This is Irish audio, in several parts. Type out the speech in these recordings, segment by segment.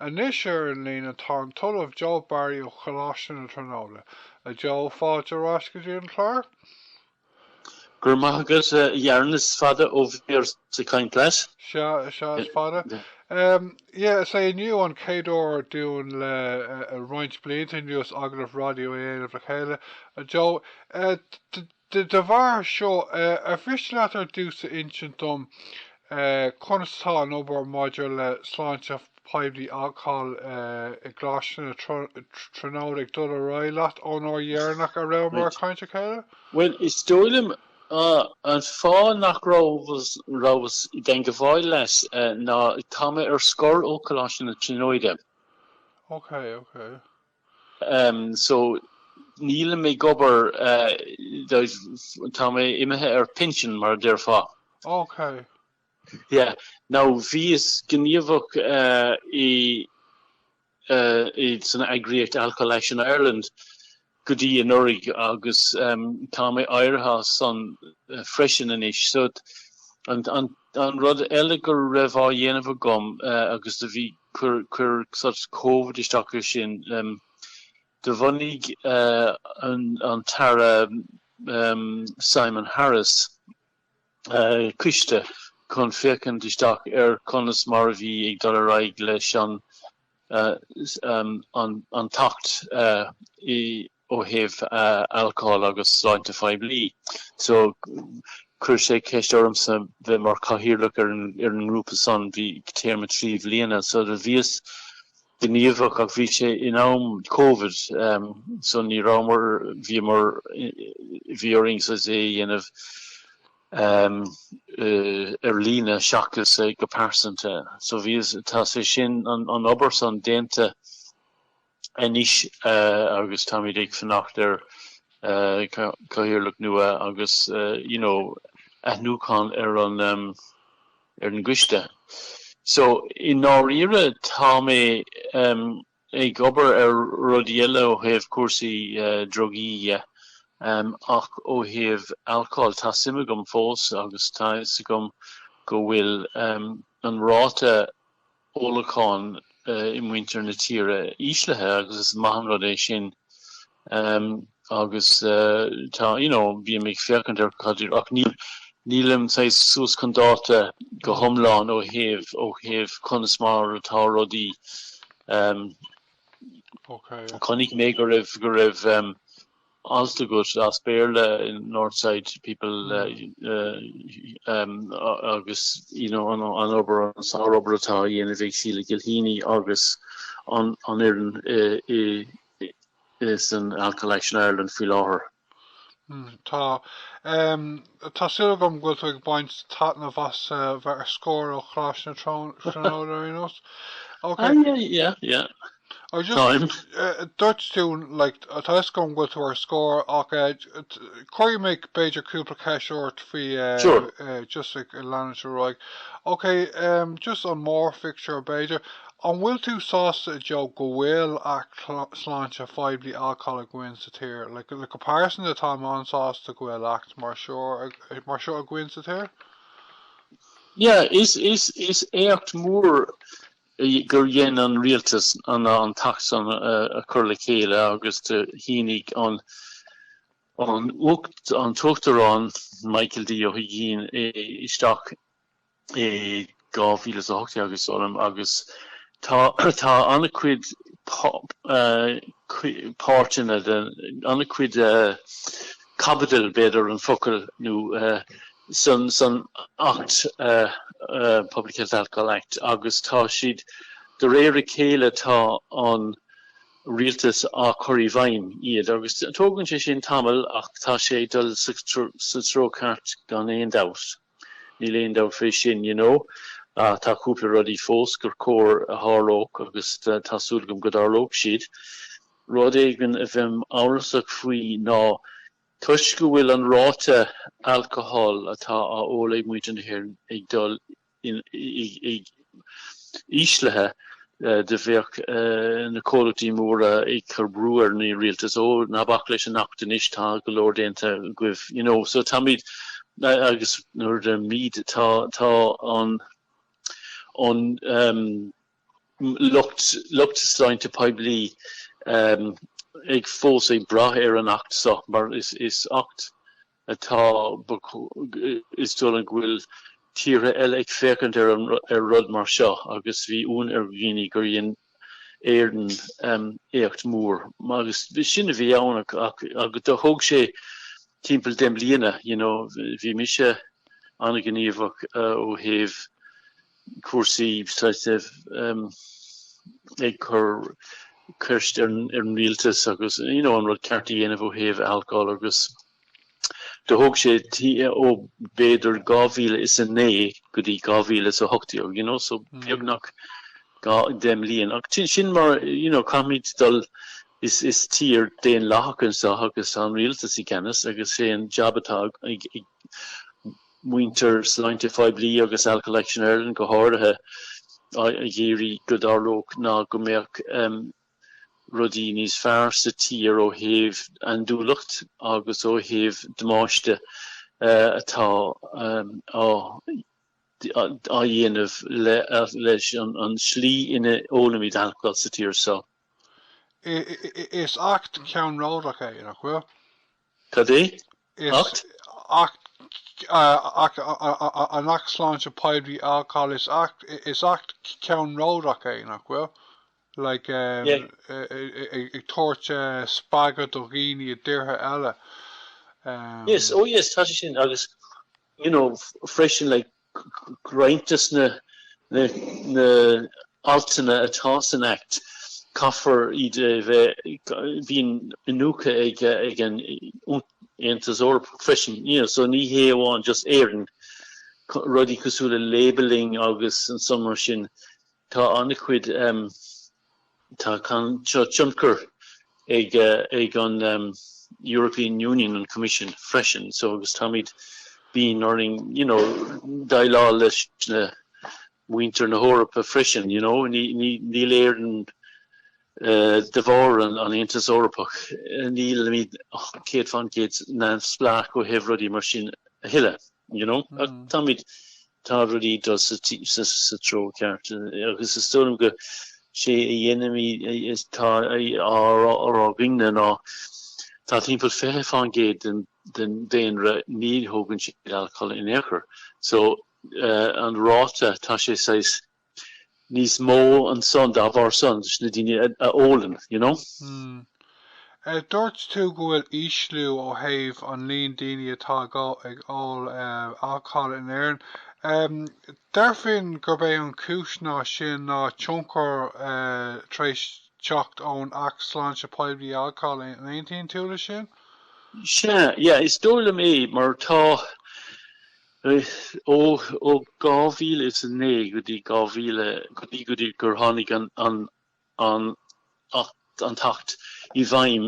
Anois ar an líne tá an tOllamh Joe Barry ó Choláiste na Tríonóide. A Joe, fáilte ar ais go dtí an clár. Go raibh maith agat, a Fhearghail, is fada ó bhíos ag caint leat. Sea, sea, is fada. Yeah, is é inniu an chéad uair dúinn le roinnt blianta anuas agallamh raidió a dhéanamh le chéile, a Joe. Dá bharr seo, ar mhiste leat ar dtús a insint dom conas atá an obair maidir le sláinte poiblí i gColáiste na Tríonóide ag dul ar aghaidh leat ón uair dheireanach a rabhamar ag caint le chéile? Bhuel, is dóigh liom an fáth nach rabhas i dteagmháil leat ná tá mé ar scor ó Coláiste na Tríonóide. Ok, ok. so nílim ag obair, tá mé imithe ar pinsean mar a déarfá. ok. yeah. Now bhíos gníomhach i san eagraíocht Alcohol Action Ireland go dtí anuraidh agus tá mé éirithe as san freisin anois so an An rud eile go raibh á dhéanamh agam agus do bhí, chuir sort Covid isteach air sin, do bhunaigh an tAire Simon Harris coiste chun féachaint isteach ar conas mar a bhí ag dul ar aghaidh leis an tAcht ó thaobh alcóil agus sláinte phoiblí. So chuir sé ceist ormsa bheith mar cathaoirleach ar an ngrúpa san bhí téarma trí bhliana. So do bhíos gníomhach ach bhí sé in am covid so ní rabhamar bhíomar bhí orainn é a dhéanamh ar líne seachas go pearsanta. So bhíos tá sé sin an obair san déanta. anois agus táimid ag fanacht ar Cathaoirleach nua agus you know athnuachan ar an ar an gcoiste. So i ndáiríre tá mé ag obair ar rudaí eile ó thaobh cúrsaí drugaí dhe ach ó thaobh alcóil tá suim agam fós agus tá fhios agam go bhfuil an ráta ólacháin i muintir na tíre íslithe agus is maith an rud é sin agus tá you know bím ag féachaint ar cad iad ach nílim saghas suas chun dáta go hiomlán ó thaobh ó thaobh conas mar atá rudaí chonaic mé go raibh go raibh alt agat as Béarla in Northside People agus you know an obair, an sár-obair atá á dhéanamh ag Sheila Gilheany agus an fhoireann in Alcohol Action Ireland faoi láthair. Tá. Tá súil agam go bhfuil tú ag baint taitneamh as bheith ar scor ó Choláiste na Tríonóide ar aon nós. Ok. Ah yeah yeah yeah. I just, Táim. eh, dúirt tú, like, tá fhios agam go bhfuil tú ar scor, ach eh, t- cuirfidh mé b'fhéidir cúpla ceist ort faoi eh, Sure. eh, just ag leanúint ar aghaidh. Ok, um, just an mórphictiúr b'fhéidir, an bhfuil tú sásta a Joe go bhfuil acht sláinte phoiblí alcóil againn sa tír? Le like, like, comparison atáim an-sásta go bhfuil acht mar seo ag- mar seo againn sa tír? Yeah, is is is éacht mór gur dhein an Rialtas an tAcht san a chur le chéile agus do shínigh an an tUachtarán Michael D. Ó hUigínn é isteach i 2018 agus um agus tá tá ana-chuid páirteanna ana-chuid caibidil, b'fhéidir, an focal, nó san Acht, Public Health Alcohol Act, agus tá siad, de réir a chéile tá an rialtas á chur i bhfeidhm iad, agus tógann sé sin tamall ach tá sé ag dul sa treo ceart gan aon dabht. Níl aon dabht fé sin, you know, ach tá cúpla rudaí fós gur chóir a tharlódh agus tá súil agam go dtarlóidh siad. Rud éigin a bheinn amhrasach faoi ná toisc go bhfuil an ráta alcóil atá á ól ag muintir na hÉireann ag dul i ísle go mbeadh na comhlachtaí móra ag cur brú ar na rialtais ó ná bac leis an Acht anois tá go leor déanta agaibh you know so táimid agus nuair a deirim tá tá an an um lucht lucht sláinte poiblí um ag fós ag brath ar an Acht so mar is is Acht atá ba is dóigh liom go bhfuil tíortha eile ag féachaint ar rud mar seo agus bhí ionadh ar dhaoine gur dhein Éireann éacht mór agus sin a bhí ann ach do thóg sé timpeall deich mbliana, you know, bhí mise an-ghníomhach ó thaobh cúrsaí sláinte ag cur ceiste ar an rialtas agus you know an rud ceart a dhéanamh ó thaobh alcól agus do thóg sé ó b'fhéidir 2009 go dtí 2018 you know so beagnach dó deich mbliain ach sin sin mar you know caithfimid is is tír daonlathach anseo agus tá an rialtas i gceannas agus sé an jab atá ag muintir sláinte phoiblí agus Alcohol Action Ireland go háirithe ag iarraidh go dtarlódh nó go mbeadh rudaí níos fearr sa tír ó thaobh andúileacht agus ó thaobh damáiste atá á dhéanamh leis an slí ina ólaimid alcól sa tír so. Is acht ceannródaíoch é, nach bhfuil? Cad é? Acht? Acht, acht, an tAcht Sláinte Poiblí, Alcól, is acht, is acht ceannródaíoch é, nach bhfuil? Like, ag tabhairt spreagadh do dhaoine i dtíortha eile. Yes, oh yes, tá sé sin, agus, you know, freisin, like, roinnt des na haltanna atá san Act, caithfear iad a bheith, bíonn iniúchadh ag an Aontas Eorpach freisin, so ní hé amháin just Éirinn, rudaí cosúil le labelling agus ansan mar sin, tá an-chuid. Tá tionchar ag an European Union, an Coimisiún, freisin so agus táimid, bíonn orainn, you know, déileáil leis na, muintir na hEorpa freisin, you know, níl Éirinn, de bharr an Aontas Eorpach, nílimid céad faoin gcéad neamhspleách ó thaobh rudaí mar sin a thuilleadh. You know? Ach táimid, tá rudaí ag dul sa treo ceart agus is dóigh liom go sé an ní atá á rá againn ná tá timpeall 20% den den daonra ní thógann siad alcól in aon chor so an ráta tá sé saghas níos mó ansan dá bharr san leis na daoine a ólann, you know. Hmm. Dúirt tú go bhfuil ísliú ó thaobh an líon daoine atá ag ól alcóil in Éirinn. Deirfinn gurb é an cúis le sin ná tionchar tar éis teacht ón Acht Sláinte Poiblí Alcóil, an aontaíonn tú le sin? Sea, yeah, is dóigh liom é mar tá, Ó 2009 go dtí go dtí go dtí gur tháinig an an Acht an tAcht i bhfeidhm,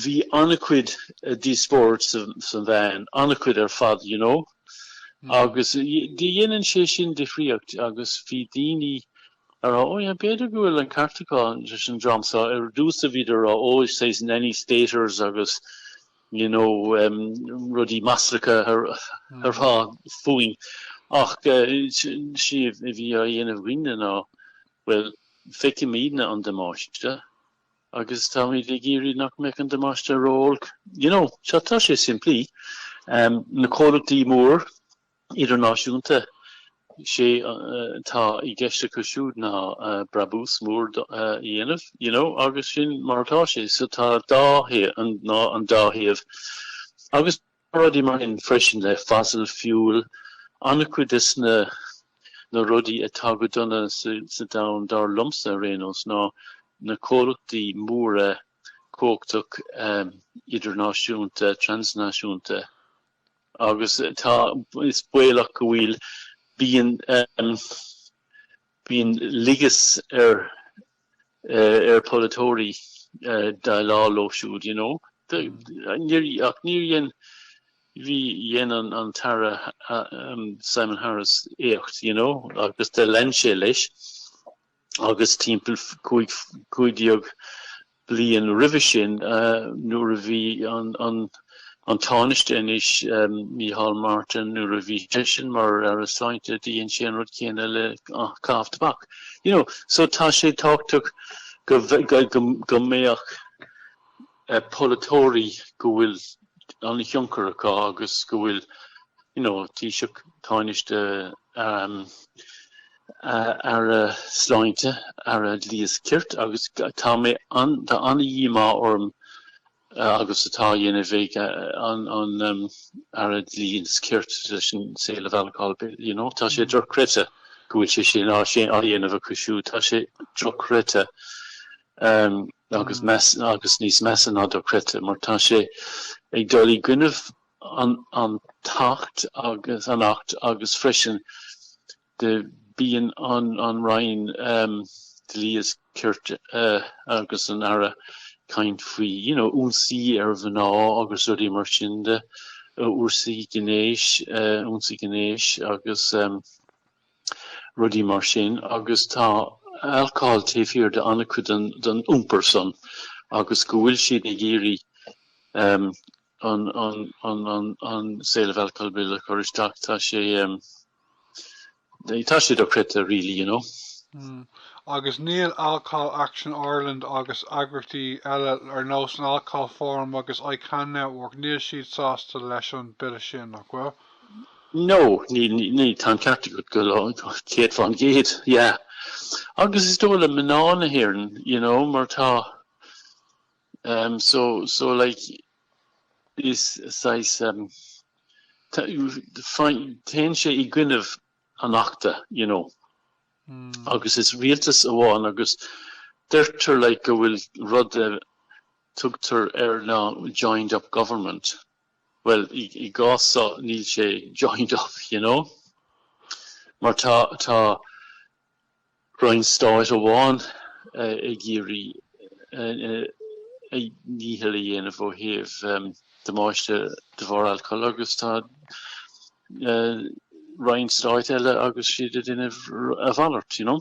bhí an-chuid díospóireacht sa sa meáin, an-chuid ar fad, you know. Agus déanann sé sin difríocht agus bhí daoine ag rá, oh yeah, b'fhéidir go bhfuil an ceart acu leis an dream seo. Ar dtús bhíodar ag rá, oh, is saghas nanny staters agus. you know, rudaí maslacha á rá fúinn. Ach sé a bhí á dhéanamh againne ná, bhuel, feicimid na an damáiste agus táimid ag iarraidh nach mbeadh an damáiste ró-olc, you know, tá sé simplí. Na comhlachtaí mór idirnáisiúnta. Sé atá i gceist acu siúd ná brabús mór a dhéanamh, you know, agus sin mar atá sé. So tá dá thaobh, ná an dá thaobh. Agus tá rudaí mar sin freisin le fossil fuel, an-chuid des na na rudaí atá go dona sa domhan dar liomsa ar aon nós ná na comhlachtaí móra cumhachtach idirnáisiúnta, transnáisiúnta. agus tá is baolach go bhfuil bíonn bíonn leisce ar ar polaiteoirí déileáil leo siúd you know níor ach níor dhein bhuel dhein an an tAire Simon Harris éacht you know agus do lean sé leis agus timpeall 15 bliain roimhe sin nuair a bhí an Tánaiste anois, Micheál Martin, nuair a bhí seisean mar Aire Sláinte, dhein sé an rud céanna le caitheamh tobac. You know, so tá sé tábhachtach go mbeadh polaiteoirí go bhfuil an thionchar acu agus go bhfuil you know Taoiseach Tánaiste, Aire Sláinte, Aire Dlí is Cirt agus tá an, tá an-dhíomá orm cad atá á dhéanamh ag an Aire Dlí is Cirt leis an Sale of Alcohol Bill you know. Tá sé dochreidte go bhfuil sé sin á dhéanamh acu siúd. Tá sé dochreidte Em agus meas agus níos measa ná dochreidte mar tá sé ag dul i gcoinnibh an an tAcht agus an acht agus freisin de bíonn an an Roinn Dlí is Cirt agus an Aire ag caint faoi you know ionsaí ar mhná agus rudaí mar sin de ionsaí gnéis ionsaí gnéis agus rudaí mar sin agus tá alcáil taobh thiar de an-chuid den iompar san agus go bhfuil siad ag iarraidh an Sale of Alcohol Bill a chur isteach tá sé tá sé dochreidte really you know. Agus níl Alcohol Action Ireland agus eagraíochtaí eile ar nós an Alcohol Forum agus ICAN Network níl siad sásta leis an bille sin nach bhfuil? No, ní, ní, tá an ceart agat, go, céad faoin gcéad, yeah. Agus is dóigh liom ná mná na hÉireann, you know, mar tá, um, so, so like, is saghas, um, téann sé i gcoinnibh an achta, you know, agus is rialtas amháin agus deirtear, like, go bhfuil rud a tugtar air ná joined-up government, Bhuel sa chás so níl sé joined up you know mar tá tá roinn stáit amháin ag iarraidh a ndícheall a dhéanamh ó thaobh damáiste de bharr alcól agus tá roinn stáit eile agus iad a dhéanamh a mhalairt you know.